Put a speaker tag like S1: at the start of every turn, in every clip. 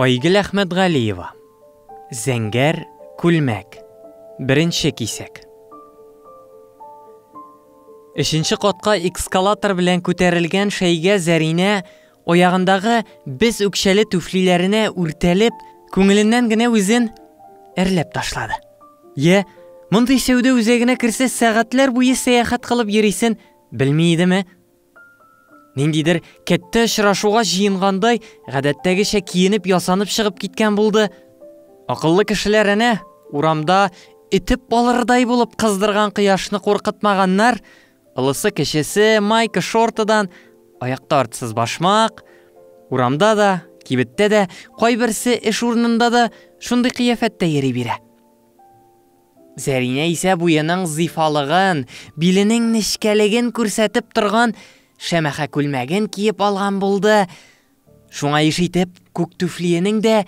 S1: Айгөл Әхмәтгалиева. Зәңгәр күлмәк. Беренче кисәк. Өченче катка экскалатор белән күтәрелгән шәйгә Зәринә аягындагы без үкчәле түфлиләренә үртәлеп, күңеленнән генә үзен әрләп ташлады. Йә, мондый сәүдә үзәгенә керсә сәгатьләр буе сәяхәт кылып йөрисен белми идеме? Ниндидер кәттә очрашуга җыенгандай, гадәттәгечә киенеп-ясанып чыгып киткән булды. Акыллы кешеләр әнә, урамда этеп алырдай булып кыздырган кояшны куркытмаганнар, олысы-кечесе майка-шортыдан, аякта артсыз башмак, урамда да, кибеттә дә, кайберсе эш урынында да шундый кыяфәттә йөри бирә. Зәринә исә буеның зифалыгын, биленең нечкәлеген күрсәтеп торган шәмәхә күлмәген киеп алган булды, шуңа еш итеп күк түфлиенең дә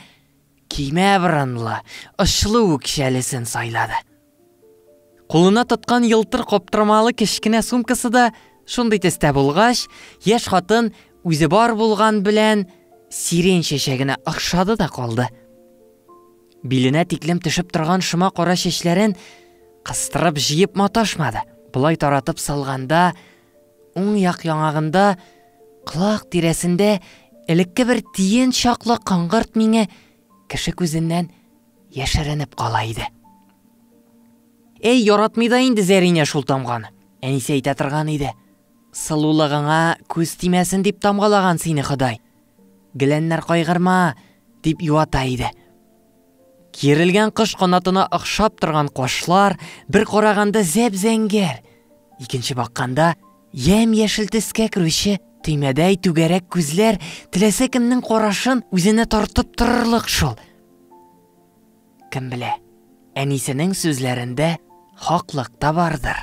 S1: кимә борынлы, очлы үкчәлесен сайлады. Кулына тоткан елтыр каптырмалы кечкенә сумкасы да шундый төстә булгач, яшь хатын үзе бар булган белән сирень чәчәгенә охшады да калды. Биленә тиклем төшеп торган шома кара чәчләрен кыстырып җыеп маташмады. Болай таратып салганда, уң як яңагында, колак тирәсендә элекке бер тиен чаклы кыңгырт миңе кеше күзеннән яшеренеп кала иде. Әй, яратмый да инде Зәринә шул тамганы. Әнисе әйтә торган иде. Сылулыгыңа күз тимәсен дип тамгалаган сине Ходай. Геләннәр кайгырма! дип юата иде. Киерелгән кош канатына охшап торган кашлар бер караганда зәп-зәңгәр, икенче бакканда ямь-яшел төскә керүче төймәдәй түгәрәк күзләр теләсә кемнең карашын үзенә тартып торырлык шул. Кем белә, әнисенең сүзләрендә хаклык та бардыр.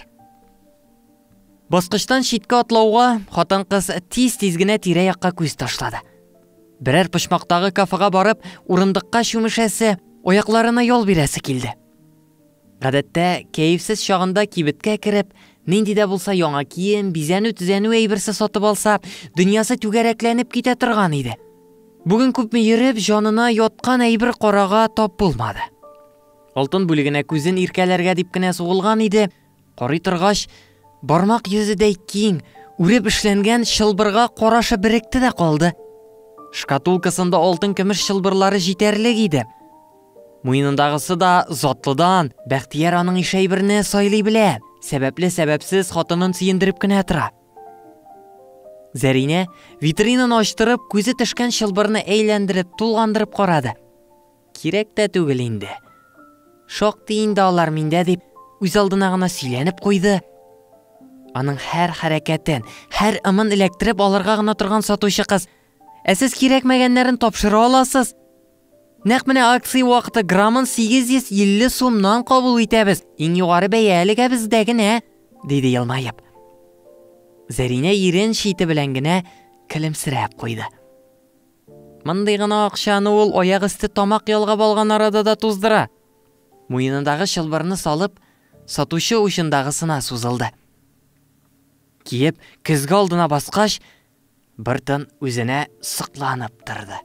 S1: Баскычтан читкә атлауга, хатын-кыз тиз-тиз генә тирә-якка күз ташлады. Берәр почмактагы кафега барып, урындыкка чүмешәсе, аякларына ял бирәсе килде. Гадәттә, кәефсез чагында кибеткә кереп, нинди дә булса яңа кием, бизәнү-төзәнү әйберсе сатып алса, дөньясы түгәрәкләнеп китә торган иде. Бүген күпме йөреп, җанына яткан әйбер карага тап булмады. Алтын бүлегенә күзен иркәләргә дип кенә сугылган иде, Карый торгач, бармак йөзедәй киң, үреп эшләнгән чылбырга карашы беректе дә калды. Шкатулкасында алтын-көмеш чылбырлары җитәрлек иде. Муенындагысы да затлыдан, Бәхтияр аның иш әйберне сайлый белә, сәбәпле-сәбәпсез хатынын сөендереп кенә тора. Зәринә, витринаны ачтырып, күзе төшкән чылбырны әйләндереп, тулгандырып карады. Кирәк тә түгел инде. Шактый инде алар миндә, дип, үзалдына гына сөйләнеп куйды. Аның һәр хәрәкәтен, һәр ымын эләктереп алырга гына торган сатучы кыз, Ә сез кирәкмәгәннәрен тапшыра аласыз. Нәкъ менә акция вакыты граммын 850 сумнан кабул итәбез. Иң югары бәя әлегә бездә генә, диде елмаеп. Зәринә ирен чите белән генә көлемсерәп куйды. Мондый гына акчаны ул аяк өсте тамак ялгап алган арада да туздыра. Муенындагы чылбырны салып, сатучы учындагысына сузылды. Киеп, көзге алдына баскач, бер тын үзенә сокланып торды.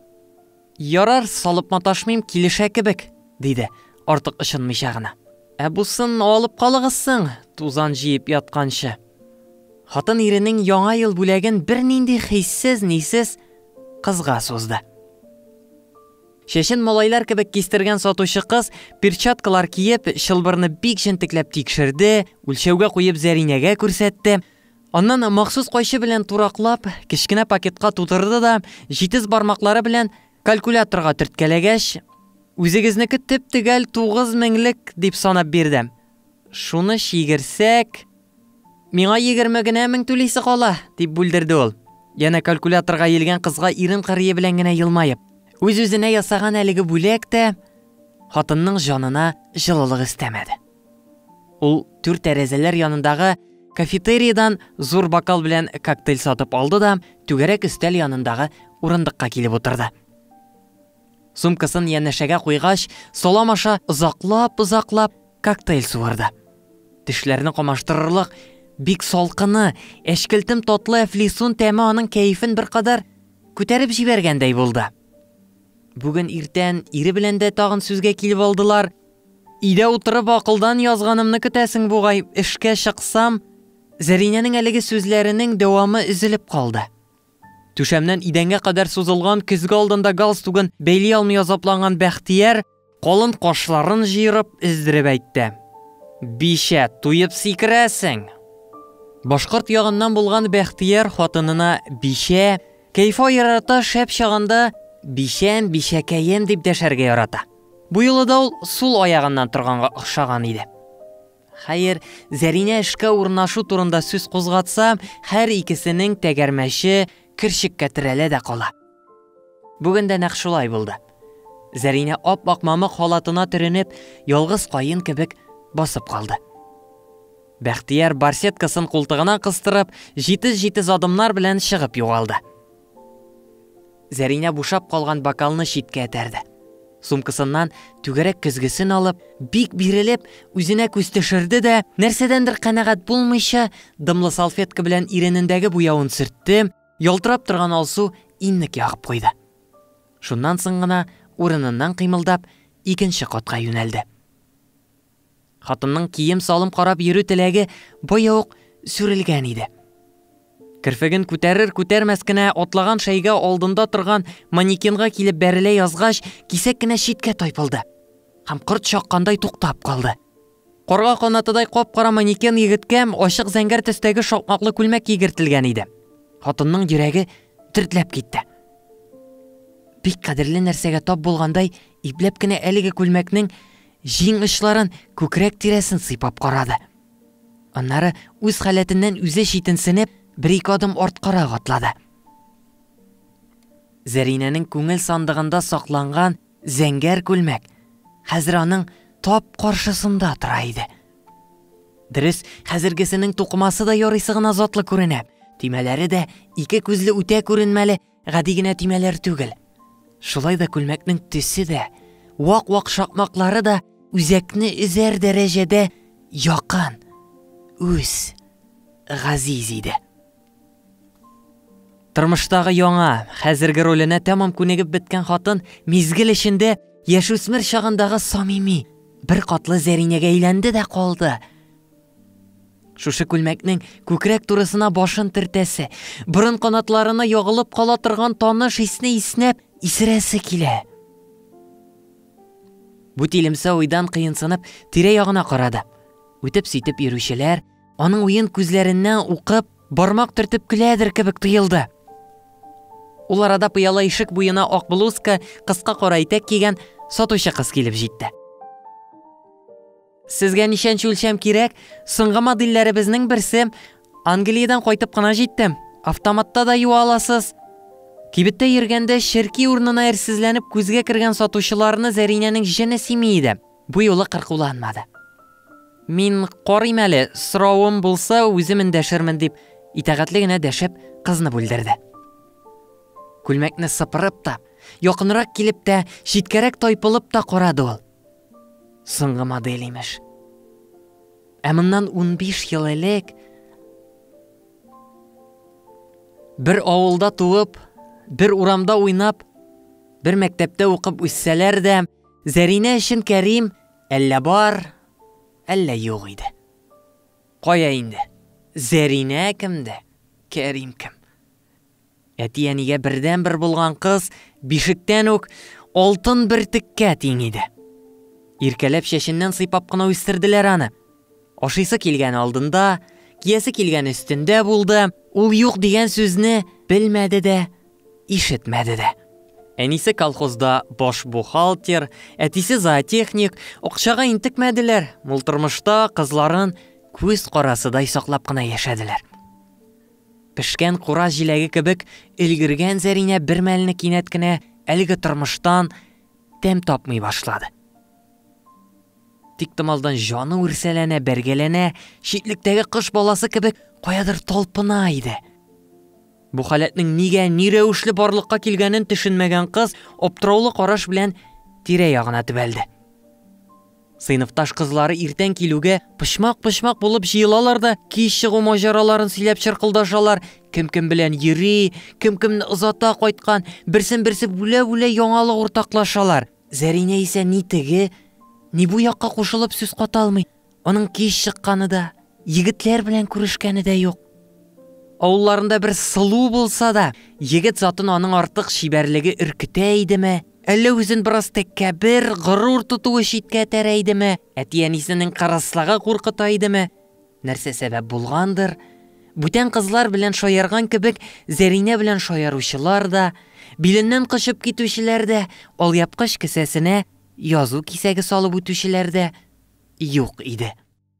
S1: Ярар, салып маташмыйм, килешә кебек, диде, артык ышынмыйча гына. Ә бусын алып калыгыз соң, тузан җыеп ятканчы. Хатын иренең яңа ел бүләген бернинди хиссез-нисез кызга сузды. Чәчен малайлар кебек кистергән сатучы кыз, перчаткалар киеп, чылбырны бик җентекләп тикшерде, үлчәүгә куеп Зәринәгә күрсәтте. Аннан махсус кайчы белән тураклап, кечкенә пакетка тутырды да, җитез бармаклары белән калькуляторга төрткәләгәч, Үзегезнеке төп-төгәл тугыз меңлек, дип санап бирде. Шуны чигерсәк, Миңа егерме генә мең түлисе кала, дип бүлдерде ул, янә калькуляторга иелгән кызга ирен кырые белән генә елмаеп. Үз-үзенә ясаган әлеге бүләк тә хатынның җанына җылылык өстәмәде. Ул түр тәрәзәләр янындагы кафетериядән зур бокал белән коктейль сатып алды да түгәрәк өстәл янындагы урындыкка килеп утырды. Сумкасын янәшәгә куйгач, салам аша озаклап-озаклап коктейль суырды. Тешләрне камаштырырлык бик салкыны, әчкелтем татлы әфлисун тәме аның кәефен беркадәр күтәреп җибәргәндәй булды. Бүген иртән ире белән дә тагын сүзгә килеп алдылар. Өйдә утырып акылдан язганымны көтәсең бугай, эшкә чыксам, Зәринәнең әлеге сүзләренең дәвамы өзелеп калды. Түшәмнән идәнгә кадәр сузылган көзге алдында галстугын бәйли алмый азапланган Бәхтияр, калын кашларын җыерып, өздереп әйтте. Бичә, туеп сикерәсең! Башкорт ягыннан булган Бәхтияр хатынына Бичә, кәефа ярата, шәп чагында Бичәм, Бичәкәем дип дәшәргә ярата. Бу юлы да ул сул аягыннан торганга охшаган иде. Хәер, Зәринә эшкә урнашу турында сүз кузгатса, һәр икесенең тәгәрмәче керчеккә терәлә дә кала. Бүген дә нәкъ шулай булды. Зәринә ап-ак мамык халатына төренеп, ялгыз каен кебек басып калды. Бәхтияр барсеткасын култыгына кыстырып, җитез-җитез адымнар белән чыгып югалды. Зәринә бушап калган бокалны читкә этәрде. Сумкасыннан түгәрәк көзгесен алып, бик бирелеп, үзенә күз төшерде дә, нәрсәдәндер канәгать булмыйча, дымлы салфетка белән иренендәге буявын сөртте, ялтырап торган алсу иннек ягып куйды. Шуннан соң гына, урыныннан кыймылдап, икенче катка юнәлде. Хатынның кием-салым карап йөрү теләге бая ук сүрелгән иде. Керфеген күтәрер-күтәрмәс кенә атлаган шәйгә алдында торган манекенга килеп бәрелә язгач, кисәк кенә читкә тайпылды. Һәм корт чаккандай туктап калды. Карга канатыдай кап-кара манекен егеткә ачык зәңгәр төстәге шакмаклы күлмәк кигертелгән иде. Хатынның йөрәге төртләп китте. Бик кадерле нәрсәгә тап булгандай, ипләп кенә әлеге күлмәкнең Җиң очларын, күкрәк тирәсен сыйпап карады. Аннары үз халәтеннән үзе читенсенеп, бер-ике адым арткарак атлады. Зәринәнең күңел сандыгында сакланган зәңгәр күлмәк хәзер аның тап каршысында тора иде. Дөрес, хәзергесенең тукымасы да ярыйсы гына затлы күренә, төймәләре дә ике күзле үтә күренмәле Гади генә төймәләр түгел. Шулай да күлмәкнең төсе дә, вак-вак шакмаклары да үзәкне өзәр дәрәҗәдә якын, үз, газиз иде. Тормыштагы яңа, хәзерге роленә тәмам күнегеп беткән хатын мизгел эчендә яшүсмер чагындагы самими, бер катлы Зәринәгә әйләнде дә калды. Шушы күлмәкнең күкрәк турысына башын тертәсе, борын канатларына ягылып кала торган таныш исне иснәп, исерәсе килә. Бу тилемсә уйдан кыенсынып, тирә-ягына карады. Үтеп-ситеп йөрүчеләр, аның уен күзләренә укып, бармак төртеп көләдер кебек тоелды. Ул арада пыяла ишек буена ак блузка, кыска кара итәк кигән сатучы кыз килеп җитте. Сезгә ничәнче үлчәм кирәк? Соңгы модельләребезнең берсе. Англиядән кайтып кына җиттем. Автоматта да юа аласыз. Кибеттә йөргәндә черки урынына әрсезләнеп күзгә кергән сатучыларны Зәринәнең җене сими иде. Бу юлы кыркуланмады. Мин карыйм әле, соравым булса, үзем эндәшермен, дип, итәгатьле генә дәшеп, кызны бүлдерде. Күлмәкне сыпырып та, якынрак килеп тә, читкәрәк тайпылып та карады ул. Соңгы модель имеш. Ә моннан 15 ел элек бер авылда туып, бер урамда уйнап, бер мәктәптә укып үссәләр дә, Зәринә өчен Кәрим әллә бар, әллә юк иде. Кая инде? Зәринә кемдә? Кәрим кем? Әти-әнигә бердәнбер булган кыз бишектән үк алтын бөртеккә тиң иде. Иркәләп чәченнән сыйпап кына үстерделәр аны. Ашыйсы килгәне алдында, киясе килгәне өстендә булды, ул юк дигән сүзне белмәде дә, ишетмәде дә. Әнисе колхозда баш бухгалтер, әтисе зоотехник, акчага интекмәделәр, мул тормышта кызларын күз карасыдай саклап кына яшәделәр. Пешкән кура җиләге кебек өлгергән Зәринә бермәлне кинәт кенә әлеге тормыштан тәм тапмый башлады. Тиктомалдан җаны үрсәләнә, бәргәләнә, читлектәге кош баласы кебек каядыр талпына иде. Бу халәтнең нигә, ни рәвешле барлыкка килгәнен төшенмәгән кыз аптыраулы караш белән тирә-ягына төбәлде. Сыйныфташ кызлары иртән килүгә, почмак-почмак булып җыелалар да, кич чыгу маҗараларын сөйләп чыркылдашалар, кем-кем белән йөри, кем-кемне озата кайткан, берсен-берсе бүлә-бүлә яңалык уртаклашалар. Зәринә исә ни теге, ни бу якка кушылып сүз ката алмый, аның кич чыкканы да, егетләр белән күрешкәне дә юк. Авылларында бер сылу булса да, егет затын аның артык чибәрлеге өркетә идеме? Әллә үзен бераз тәккәбер, горур тотуы читкә этәрә идеме, әти-әнисенең кырыслагы куркыта идеме? Нәрсә сәбәп булгандыр, бүтән кызлар белән шаярган кебек Зәринә белән шаяручылар да, биленнән кочып китүчеләр дә, алъяпкыч кесәсенә язу кисәге салып үтүчеләр дә юк иде.